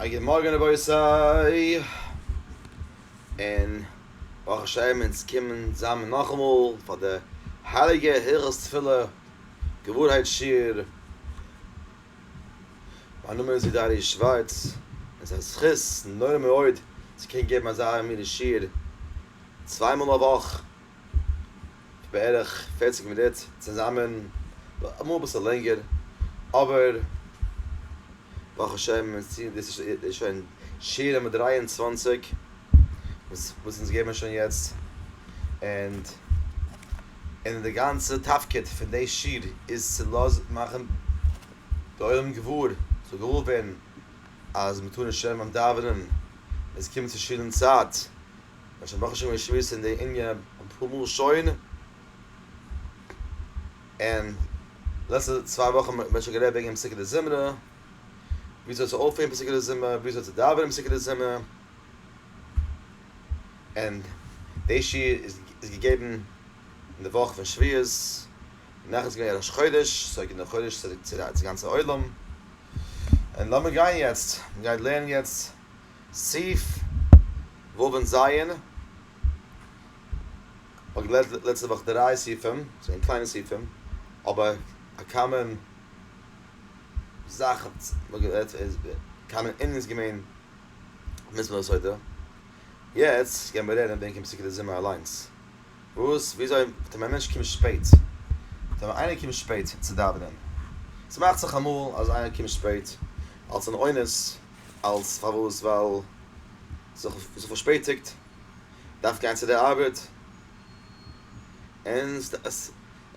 א גוט מארגן רבותי, און ברוך השם אונז קומען צוזאמען נאכאמאל פאר די הייליגע הלכות תפילה געווארהייט שיעור, מיין נאמען איז ווידער ארי' שווארץ, און ס'איז א זכות נורא מאוד צו קענען געבן אזא אמית'דיגע שיעור צוויי מאל א וואך. בערך פערציג מינוט צוזאמען, אמאל אביסל לענגער, אבער ברוך השם דאס איז שוין שיעור נומער דרײַ און צוואַנציק וואס אונז געבן שוין יעצט, און און די גאנצע תפקיד פון די שיעור איז צו לאזן מאכן די עולם געוואר, זאל געוואר ווערן אז מ'טאר נישט שרייבן ביים דאווענען, עס קומט צו שיעור אין צייט. מ'האט שוין ברוך השם געשמועסט אין די ענין אפאר מאל שוין, און לעצטע צוויי וואכן האט מען שוין גערעדט וועגן פסוקי דזמרה, וויאזוי צו אויפהערן פסוקי דזמרה, וויאזוי צו דאווענען פסוקי דזמרה, און די שיעור איז איז געגעבן אין די וואך פון שבועות, נאכדעם איז געווען ראש חודש, סאו איך גיב די חודש צו די גאנצע עולם, און לאמיר גיין יעצט, מ'גייט לערנען יעצט. סעיף ו' און ז', כ'האב געלערנט לעצטע וואך דריי סעיפים, ס'געווען קליינע סעיפים, אבער א קאמאן זאך האט מען גערעדט, קאמאן ענין איז געווען מס' הסדר, יעצט גייען מיר לערנען בענקען פסוקי די זמר אליינס, וואס וויאזוי וועט ווען א מענטש קומט שפעט, זאג נאר איינער קומט שפעט צו דאווענען, ס'מאכט זיך אמאל אז איינער קומט שפעט אלס אן אונס, אלס פארוואס? ווייל ס'איז זיך פארשפעטיגט, דארף גיין צו די ארבעט, און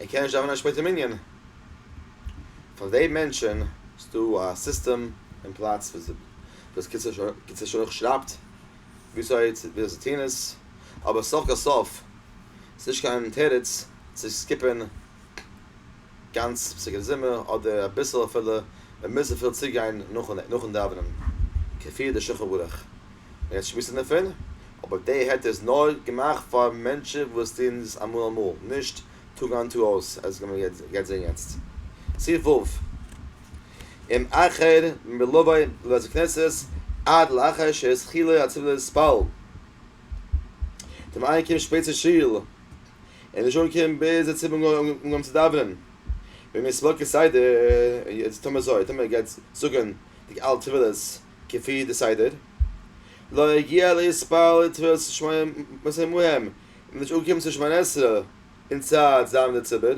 ער קען נישט דאווענען שפעט אין מנין. פאר די מענטשען איז דא א סיסטעם אין פלאץ וואס קיצור שולח שרייבט וויאזוי צו טון עס, אבער סוף כל סוף איז נישט קיין תירוץ צו סקיפען. גאנץ פסוק אין זומער אדער אביסל אפילו, מען מוז צופיל צוגיין נאכן דאווענען כפי די שולחן ערוך, מען רעדט שמועסן דערפון, אבער די היתר איז נאר געמאכט פאר מענטשן וואס טוען עס אמאל אמאל, נישט טאג איין טאג אויס, עס וועט מען גייט זען יעצט. סי' ו', אם אחר מלווי לבית הכנסת עד לאחר שהתחילו התפילות בעל טעם איינער קומט שפעט צו שול, און די שעה קומט ביז די ציבור האט אנגעהויבן צו דאווענען, ווען מ'איז סוכה סדר, יעצט טאמער אזוי, טאמער ער גייט זאגן די אלע תפילות כפי די סדר, לא הגיע להתפלל לתפילת שמונה עשרה מהם, מ'איז נישט אנגעקומען צו שמונה עשרה אין צייט צו דאווענען די ציבור,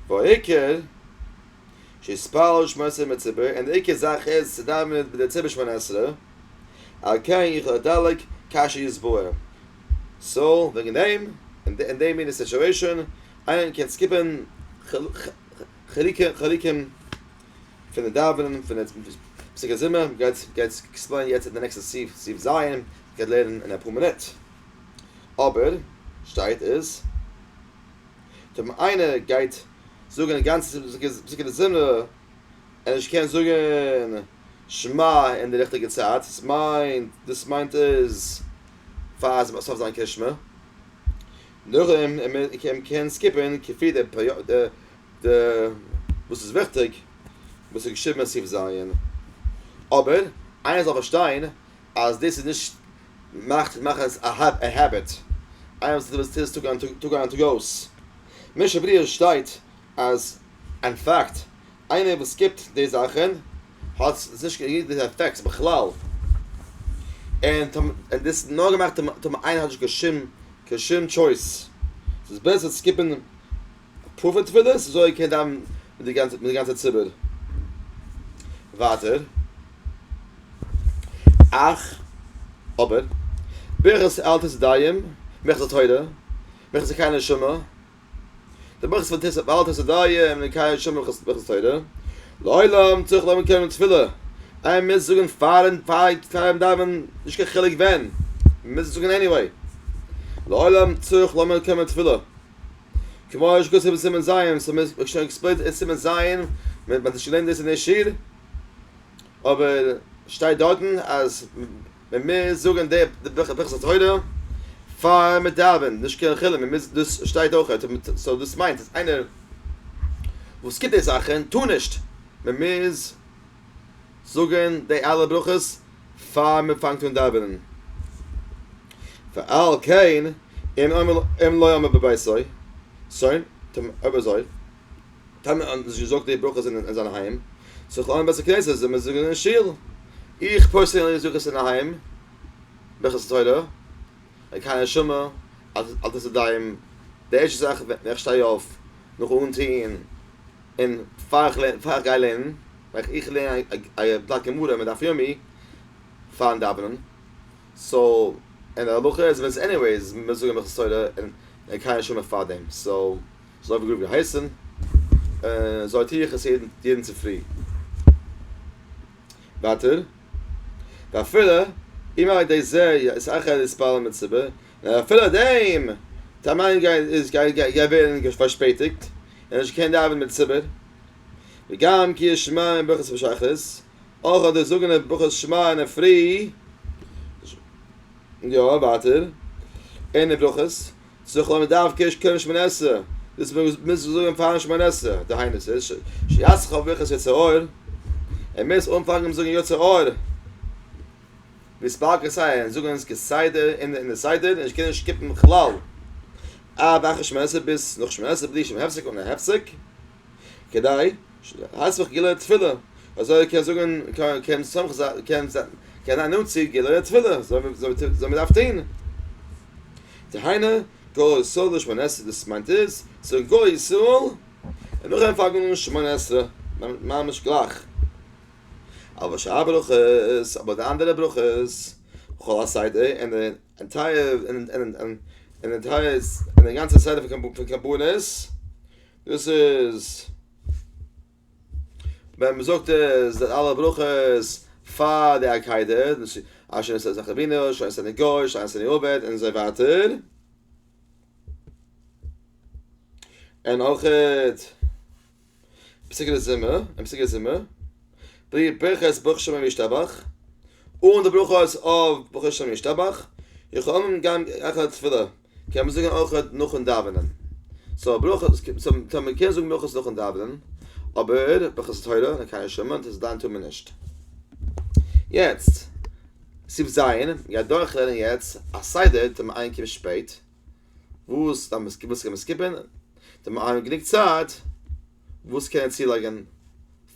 והעיקר שיתפלל שמונה עשרה עם הציבור, און די עיקר זאך איז צו דאווענען מיט די ציבור שמונה עשרה. על כן יחל הדלק כאשר יסבאר. סא וועגן דעם אין די מינע סיטשועישאן איינער קען סקיפען חלקים פון די דאווענען פון די פסוקי זמר גייט גייט עקספלעינען יעצט אין די נעקסטע סעיף סעיף ז' גייט לערנען אין אפאר מינוט אבער שטייט איז טא ווען איינער גייט זאגען גאנצע פסוקי דזמרה ער נישט קען זאגען שמע אין די ריכטיגע צייט, דאס מיינט, דאס מיינט איז פאר עס מוז זיין קרית שמע, נאכדעם מען קען סקיפען כפי די די וואס איז וויכטיג וואס איז געשריבען אין סעיף ז', אבער איינער זאל פארשטיין אז דאס איז נישט מאכט מאכן עס א העביט, איינער וואס טוט דאס טאג איין טאג אויס, משא כ שטייט אז אין פאקט. איינער וואס סקיפט די זאכען האט נישט געקריגט די עפעקטס בכלל און און דאס האט נאר געמאכט טון איינער האט נישט קיין שום קיין שום טשויס ס'איז בעסער צו סקיפען אפאר פון תפילות אזוי איר קענט דאווענען מיט די גאנצע מיט די גאנצע ציבור ווייטער אך אבער ברכת אל תתדיים מכס התורה מכס קיין נשמה. דער ברוך איז פון תוס' בעל תוס' אודאי און מקיים שומרים הלכות ברכות תורה. לעולם צריך לומר קודם תפילה, איי מען מוז זאגן פארן פארן דאווענען נישט קיין חילוק ווען, מען מוז עס זאגן עניוועי. לעולם צריך לומר קודם תפילה, כמו שכתוב אין סימן ז', עס איז שוין עקספלעינד אין סימן ז', מען האט שוין געלערנט דאס אין דער שיעור, אבער שטייט דארטן אז. ווען מיר זאגן די ברכת התורה פאר מיר דאווען נישט קיין חילוק מען מוז דאס שטייט אויך סאו דאס מיינט אז איינער וואס קומט די זאכן טאר נישט מען מוז זאגן די אלע ברכות פאר מען פאנגט אן דאווענען ועל כן אם לא אמר בביתו שוין טוב אויב אזוי טעמע האט נישט געזאגט די ברכות אין אין זיין היים זאגט אויך אין בית הכנסת זאל מען זאגן אין שול איך פערזענליך זאג עס אינדערהיים ברכות התורה און קיינער שמע אז אז דאס איז דיין די ערשטע זאך ווען איך שטיי אויף נאכן אנטוהן און פאר איך לערן פאר איך גיי לערנען מאך איך לערן א א בלאט גמרא מיט דף יומי פארן דאווענען סאו און די הלכה איז ווען עניוועיס מען זאגן ברכות התורה און קיינער שמע פארדעם סאו. זוי ווי גראב געהייסן, אזוי טו איך עס יעדן צופרי. ווייטער, ואפילו אם על ידי זה יסכל להתפלל מציבור, און אפילו דעם טאר מען גיי ווערן פארשפעטיגט, און נישט קענען דאווענען מיט ציבור, וגם כי ישמעון ברכות בשחרית, אויך אדער זאגן די ברכות שמע אין דער פרי, יא ווייטער, אין די ברכות, זכור מדארף קעש קודם שמונה עשרה, דאס מוז מען זאגן פארן שמונה עשרה, דהיינו ס'איז שיעשך אויף ברכת יצא אור, ער מוז אנפאנגן מיט זאגן יצא אור, מספר כסדר, און זאגן עס כסדר אין די סדר, און נישט קענען סקיפן בכלל, עד אחרי שמונה עשרה ביז נאך שמונה עשרה בלי שום הפסק אן א הפסק. כדי שתסמוך גילוי התפילה, אזוי קען זאגן קען סמך קען זיין נאנט צו גילוי התפילה, אזוי מ'דארף טון. דהיינו, גוי ישראל דאס שמונה עשרה דאס מיינט איז, ס'זאל גוי ישראל און נאכדעם פאלגן שמונה עשרה, ממש גלייך. אבער שאר הברכות, אבער די אנדערע ברכות, כל הסדר און די אנטייער און די אנטייער און די גאנצע סדר פון קרבנות, דאס איז ווען מען זאגט עס די אלע ברכות פאר די עקידה, אשר נשא זכר אבינו, אשר נשא נגאל, אשר נשא נעובד, און אזוי ווייטער. און אויך פסוקי די זומער, און פסוקי די זומער, בלי ברכות ברוך שם וישתבח, אן די ברכות אויף ברוך שם וישתבח, יכולים גם אחרי תפילה, קען מען זאגן אויך נאכן דאווענען. סאו ברויך סאו מען קען זאגן אויך נאכן דאווענען, אבער בחסד תורה און הקיה שומע דאס דיין טאר מען נישט. יעצט, סעיף ז', גייט דורכלערנען יעצט א סדר טאר מען איינקומען שפעט, וואס דארף מען סקיפן, וואס קען מען סקיפן, טאר מען אייננעמען גענוג צייט, וואס קענען צולייגען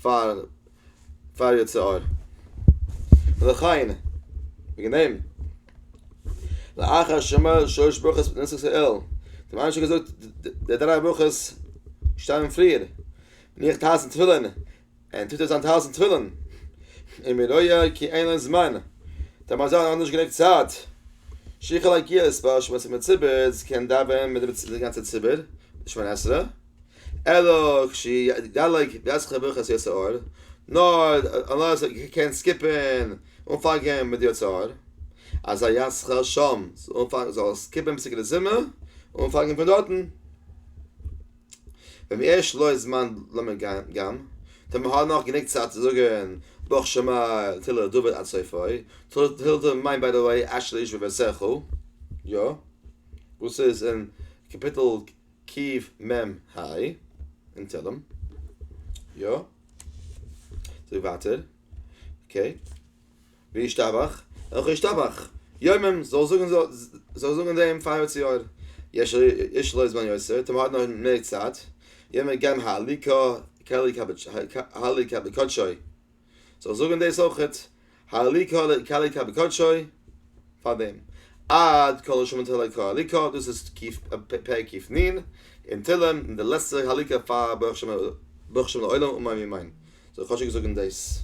פאר פאר יצר הרע. וכהנה וועגען דעם לאחר שאמר שלש ברכות בנוסח סה ל האט מען שוין געזאגט די דריי ברכות שטייען פריער ניחט הייסן תפילין און טוט אויס היינט הייסן תפילין און מיר רויע כי אין להם זמן דער מזל האט נישט גענוג צייט שיכעלע גיעס פאר שמות המציבות קען דאווען מיט די גאנצע ציבור שמונה עשרה. אלא כשיתגלה גזרך ברכת יצר הרע, נאר אנלעס ער קען סקיפען אנפאנגען מיט די יצר הרע, אז א ישכר שם זאל סקיפען פסוקי דזמר און אנפאנגען פון דארטן, ואם יש לו זמן לומר גם, טאמער האט ער נאך גענוג צייט צו זאגען ברוך שמער תהילה דוד עד סופו, תהילה דוד מיינט ביי די וועי אשרי איש ובעשרה חו, יא, וואס איז אין קאפיטל. קיעוו מ היי אין תהלים. יא. זאג ווייטער. אקעי. וישתבח. אויך ישתבח. יומם זאל זאגן זאל זאגן דעם פאר יאר צו יאר. יש יש לויז בן יוסף טאמער האט נאך מער צייט. יומער גמ ה הליקה הליקה בקדשו. זאל זאגן דאס אויכעט, האלי קאלי קאלי קאי בקדשוי, פאר דעם, עד כל השמות האלי קא האלי קא, דאס איז פרק קיף נ אין תהלים, און די לעצטער האלי קא פאר ברוך שם ברוך שם לעולם אמן ואמן, זאל כאטשיג זאגן דאס.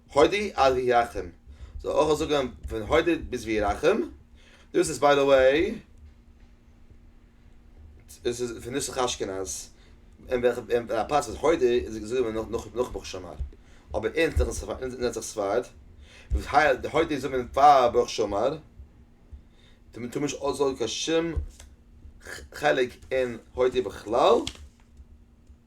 הודי עד וירחם, זאל אויך זאגען פון הודי ביז וירחם, דאס איז ביי די וועי, דאס איז פון נוסח אשכנז, אין וועלכע א פלאץ איז הודי איז עס געזאגט געווארען נאך נאך ברוך שמער, אבער אין נוסח ספרד, הודי זאגט מען פאר ברוך שמער, מען טאר נישט אויסזאגען קיין שום חלק אין הודי בכלל.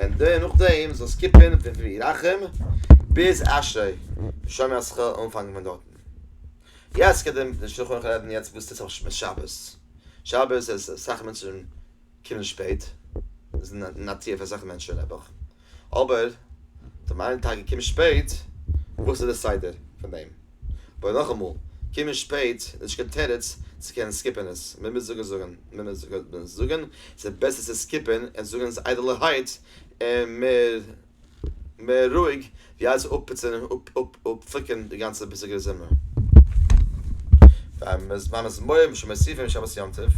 און די נאכדעם זאל סקיפען פון וירחם ביז אשרי ושומר אז כ'העל אנפאנגען פון דארטן. יעצט כדי נישט צו הארכן רעדן יעצט וואס טוט זיך אויף שבת. שבת איז אסאך מענטשן קומען שפעט, איז נאטירליך פאר אסאך מענטשן נעבעך, אבער טאמער איינער טאקע קומט שפעט וואס איז די סדר פון דעם? אבער נאכאמאל, קומען שפעט איז נישט קיין תירוץ צו קענען סקיפען עס, מען מוז זאגען זאגען, מען מוז זאגען זאגען, ס'איז בעסער צו סקיפען עס זאגען עס איידעלערהייט און מער מער רואיג ווי אלץ אפפיצען און אפפוקען די גאנצע ביזיגערע זומער. פאר מזמורים און מוסיפים שבת יום טוב,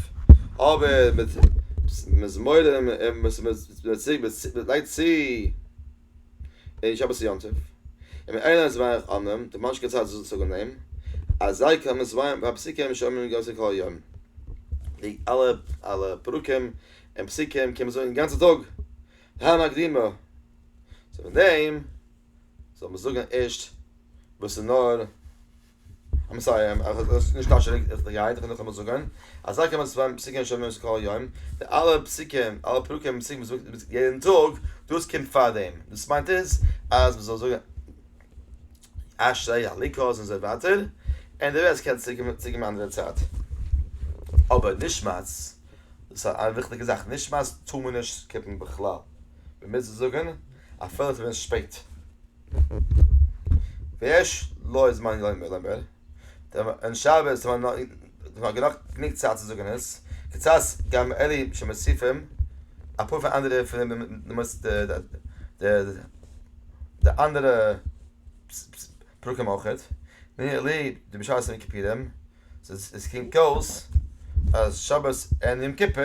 אבער מיט מזמורים און מוסיפים מען לייגט צו. אין שבת יום טוב אין מען איינער איז ווייעך אנעם די מאנשקע צייט זאל זיך אנעם אז זיי קען עס ווייען ביי פסוקים שאומרים אין גאנצע כל יום די אלע אלע פרקים אין פסוקים קען מען זאגן גאנצע טאג דהן הקדימה צו דעם זאל מען זאגן ערשט וואס איז נאר איים סארי איך האב עס נישט פארשטאנען איך בין געהייטעך און נאכאמאל זאגען אזא קען מען צוויי פסוקים שומעים עס כל יום די אלע פסוקים אלע פרקים און פסוקים וואס מען זאגט יעדען טאג דאס קומט פאר דעם דאס מיינט איז אז מען זאל זאגען אשרי הליקוט און זוי ווייטער און די רעסט קען צוקומען צו קיין אנדערע צייט אבער נשמת דאס איז א וויכטיגע זאך נשמת טאר מען נישט סקיפען בכלל מען מוז עס זאגען אפילו ס'ווען שפעט. ויש לו זמן לומר לומר, און שבת איז נאך גענוג צייט צו זאגן עס, קצת גם אלה שמוסיפים, אפאר פון אנדערע פון די אנדערע פרקים אויך, והנה לי די משל של יום כיפורים, ס'קומט אויס אז שבת און יום כיפור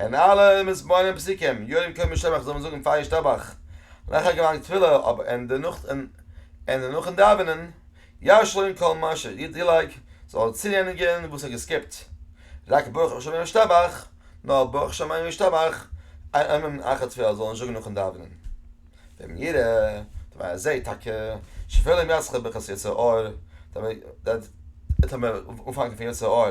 און אלע מסבר'נען פסוקים, יודעים קומען שבח זאל מען זאגן פאר ישתבח לאחר גמר תפילה, אבער אין די נאכט און די נאכן דאווענען ישלם כל מה ש, יעדע דילעג זאל ער צורייניגן וואס ער האט געסקיפט, רק ברוך השם ישתבח, נאר ברוך שמים ישתבח, איין אמן אחר תפילה זאל ער נישט זאגן נאכן דאווענען, ואם יראה, טאמער ער זעט טאקע, שפלים יצחק בכעס יצר הרע, דער וועט אנפאנגען פון יצר הרע.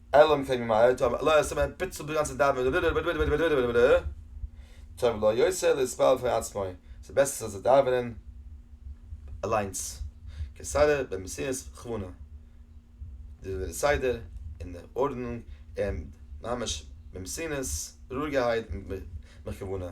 אלא אם כן ממהר, טוב אולי ער סתם פיצלט די גאנצע דאווענען ווידער, טוב לו יותר להתפלל בפני עצמו, ס'איז בעסער זאל זיך דאווענען אליינס, כסדר במסירות וכוונה, די די סדר און די ארדענונג און ממש במסירות, רואיגערהייט, מיט כוונה.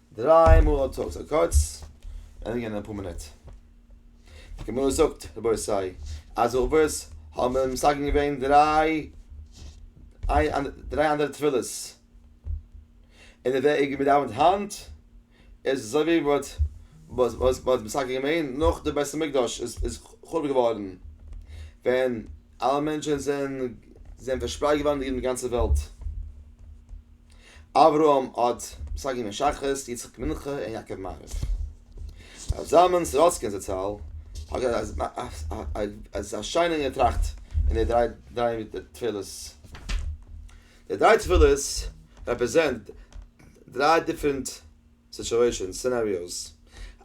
דריי מאל האט האט ער קורץ ענדיגען אין אפאר מינוט. די גמרא זאגט רבותי אז אבות האבן מסגן געווען דריי דריי אנדערע תפילות און די וועג מען דאווענט היינט איז אזוי ווי מען האט וואס וואס מען האט מסגן געווען נאך די בית המקדש איז איז חרוב געווארן ווען אלע מענטשען זענען זענען פארשפרייט געווארן אין די גאנצע וועלט. אברהם אט, שגיא מען שחרית, יצחק מנחה און יעקב מעריב. רבי זלמן סורוצקין זצל האט געהאט א א שיינע געטראכט אין די דריי דריי תפילות. די דריי תפילות רעפרעזענט דריי דיפרענט סיטואשענס, סינעריאוס.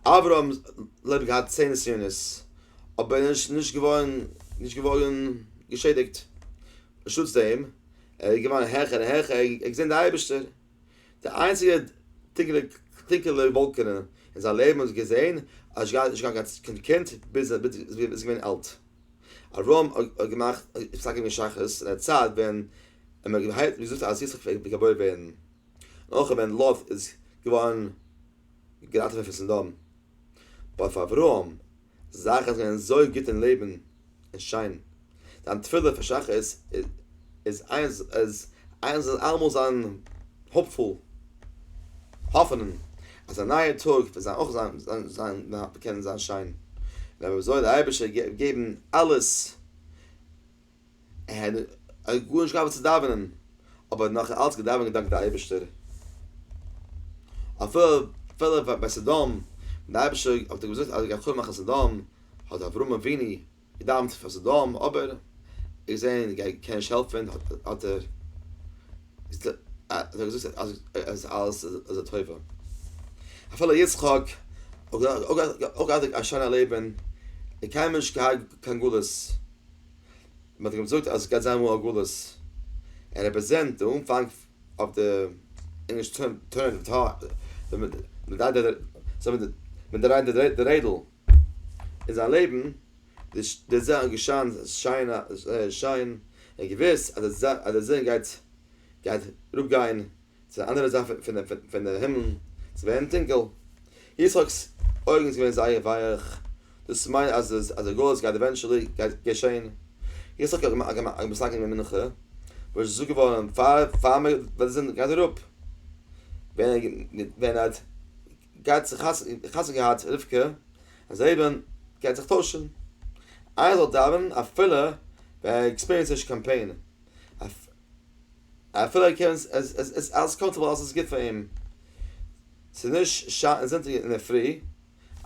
אברהם לעבן געהאט צען נסיונות אבער נישט נישט געווארן נישט געווארן געשעדיגט. בשותפות דעם, ער איז געווארן העכער און העכער, ער האט געזען די אייבערשטער. די איינציגע טונקעלע טונקעלע וואלקענע אין זיין לעבן וואס ער האט געזען, אז עס גייט נישט קיין קיין קינד ביז ער איז געווען אלט. אברהם האט געמאכט האט פסק געווען שחרית אין א צייט ווען ער האט געהייראט געזאגט אז יצחק וועט געבוירן ווערן, און אויך ווען לוט איז געווארן געראטעוועט פון סדום. אבער אויף אברהם זאכן זענען אזוי גוט און לעבן און שיין, זיין תפילה פאר שחרית איז איז אז איינער זאל אלעמאל זיין האפפול, האפענען אז א נייער טאג וועט זיין אויך זיין זיין זיין קענען זיין שיין, און אויב זאל די אייבערשטער געבן אלעס ער האט גארנישט געהאט וואס צו דאווענען, אבער ער האט נאך אלץ געדאווענט געדאנקט די אייבערשטער. אפילו ביי סדום, ווען די אייבערשטער האט אים געזאגט אז ער גייט חרוב מאכן סדום, האט אברהם אבינו געדאווענט פאר סדום, אבער ער האט געזען ער קען נישט העלפן, האט ער געזאגט אז אלעס איז לטובה. אפילו יצחק האט אויך געהאט א שיינע לעבן, ער האט קיינמאל נישט געהאט קיין גלות. מען האט אים געזאגט אז עס גייט זיין אמאל א גלות, ער רעפרעזענט די אנפאנג אויף די ענגליש טוירן אוו טאר, מען דרייט די מען דרייט די רעדל אין זיין לעבן, די די זון האט געשיינט שיין שיין און געוויסט אז די זון גייט גייט אראפ גיין. צו די אנדערע זייט פון די הימל צו ווערן טונקל. יצחק'ס אויגן איז געווען זייער ווייעך, דאס מיינט אז די גלות גייט עווענטשעלי געשען. יצחק האט געסאקן אין די מנחה, וואס איז געזאגט געווארן פאר מען וועט די זון גייט אראפ, ווען ער האט געהאט חתונה געהאט רבקה, אז זייער לעבן גייט זיך טוישן. איינער זאל דאווענען אפילו ווען ער עקספיריענסט נישט קיין פעין. אפילו קען עס עס עס עס אלס קאנטער ווייל עס איז גוט פאר אים ס'איז נישט שאטן זונטאג אינדערפרי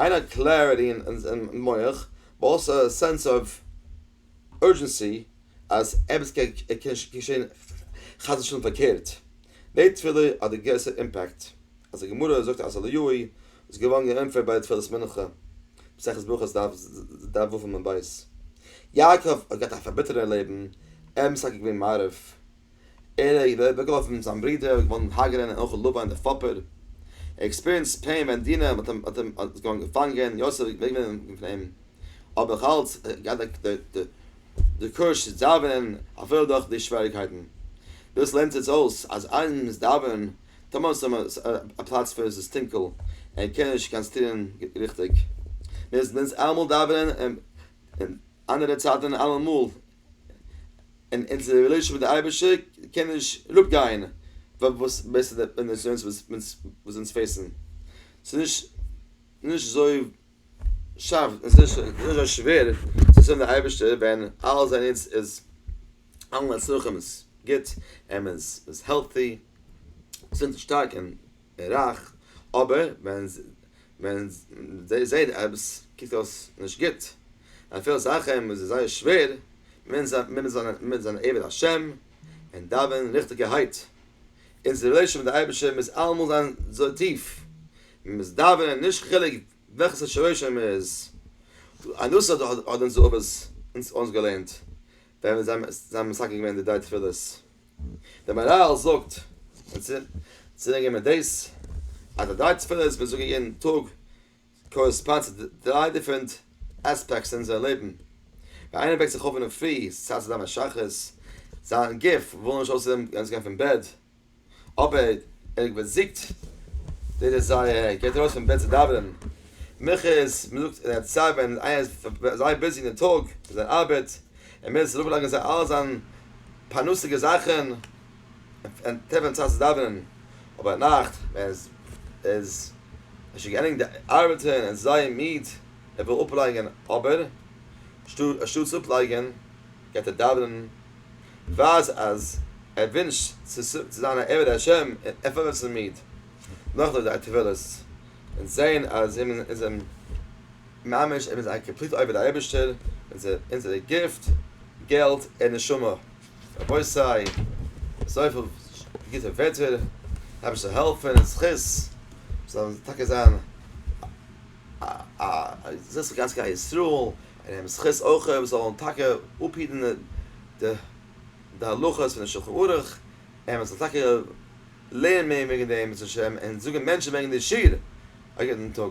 איין האט קלעריטי אין מח באט אלסא א סענס אוו אורדזשענסי אז עפעס קען געשען חס ושלום פארקערט די תפילה האט די גרעסער אימפעקט אז די גמרא זאגט אז הלואי איז געווארן געענטפערט ביי די תפלת מנחה, מסכת ברכות דף ז ו עמוד ב'. יעקב האט געהאט א פארביטערטע לעבן, ער איז משתכר געווען מערב, ער האט אוועקגעווארפן זיין ברודער, ער איז געווארן הגרן און אויך לבן דער פאפער, ער האט עקספיריענסד פעין ווען דינה האט אים האט אים האט איז געווארן געפאנגען, יוסף איז אוועק געווען פון אים, אבער נאך אלץ האט ער געהאט די די די קוראזש צו דאווענען אפילו דורך די שוועריגקייטן. דאס לערנט אונז אויס אז איינמאל מען איז דאווענען טאמער ס'איז ס ה א פלאץ וואו ס'איז טונקל און קען נישט קיין סטירען ריכטיג מוז מען עס אלעמאל דאווענען און און אנדערע צייטען און אלעמאל און אונזער רילעישאן מיט די אייבערשטער קען נישט אראפ גיין וואס בעסער די נסיונות וואס אונז פעיסען ס'איז נישט נישט אזוי שאפט עס איז נישט אזוי שווער צו זאגן די אייבערשטער ווען אלעס ווען איצט איז אלע מצרכים איז גוט און מען איז העלטי געזונט און שטארק און רייך אבער ווען ווען זיי זעהן עפעס קוקט אויס נישט גוט אפילו זאכן וואס איז זייער שווער מוז מען זיין עבד השם און דאווענען ריכטיגערהייט אונזער רילעישאן מיט די אייבערשטער מוז אלעמאל זיין אזוי טיף מען מוז דאווענען נישט חילוק וועלכע סארט שורשים מען איז, א נוסח דא האט אונז רבבות אונז אונז געלערנט ווען זיי זיי האבן מסקל געווען די דריי תפילות, דער מהרל זאגט אונז צו דענקען מיט דאס אז די דריי תפילות וואס מיר זאגן יעדן טאג קארעספאנד צו דריי דיפרענט עספעקטס אין אונזער לעבן, ווען איינער וועקט זיך אויף אינדערפרי ס'צייט צו דאווענען שחרית, זיין גוף וויל נישט אויסער דעם גאנצן גיין פון בעט, אבער ער באזיגט די דעזייער ער גייט ארויס פון בעט צו דאווענען מנחות מען זאגט ער האט צייט ווען איינער איז זייער ביזי אין די טאג מיט זיין ארבעט ער מוז אראפ לייגן זיין אלע זיין פרנסה'דיגע זאכן און טרעפן די צייט צו דאווענען אבער נאכט ווען עס איז ער שוין געענדיגט די ארבעטן ער איז זייער מיד ער וויל אפלייגן אבער אנשטאט צו אפלייגן גייט ער דאווענען. ווייז אז ער ווינשט צו זיין א עבד השם און ער פארווערט זיך מיד נאך לויט זיינע תפילות און זעהן אז מען איז אים ממש ער איז א קאמפליט עובד אייבערשטער אונזערע גיפט געלט און נשמה רבותי אזויפיל גוטע ווערטער אייבערשטער זאל העלפן און זכות זאל טאקע זיין א זכות פאר גאנץ כלל ישראל און אים זכות אויך אויב זאל אים טאקע אפהיטן די הלכות פון די שלחן ערוך, און מען זאל טאקע לערנען מער וועגן דעם בעזהשי ת און זאגן מענטשן וועגן די שיעור א גוטן טאג.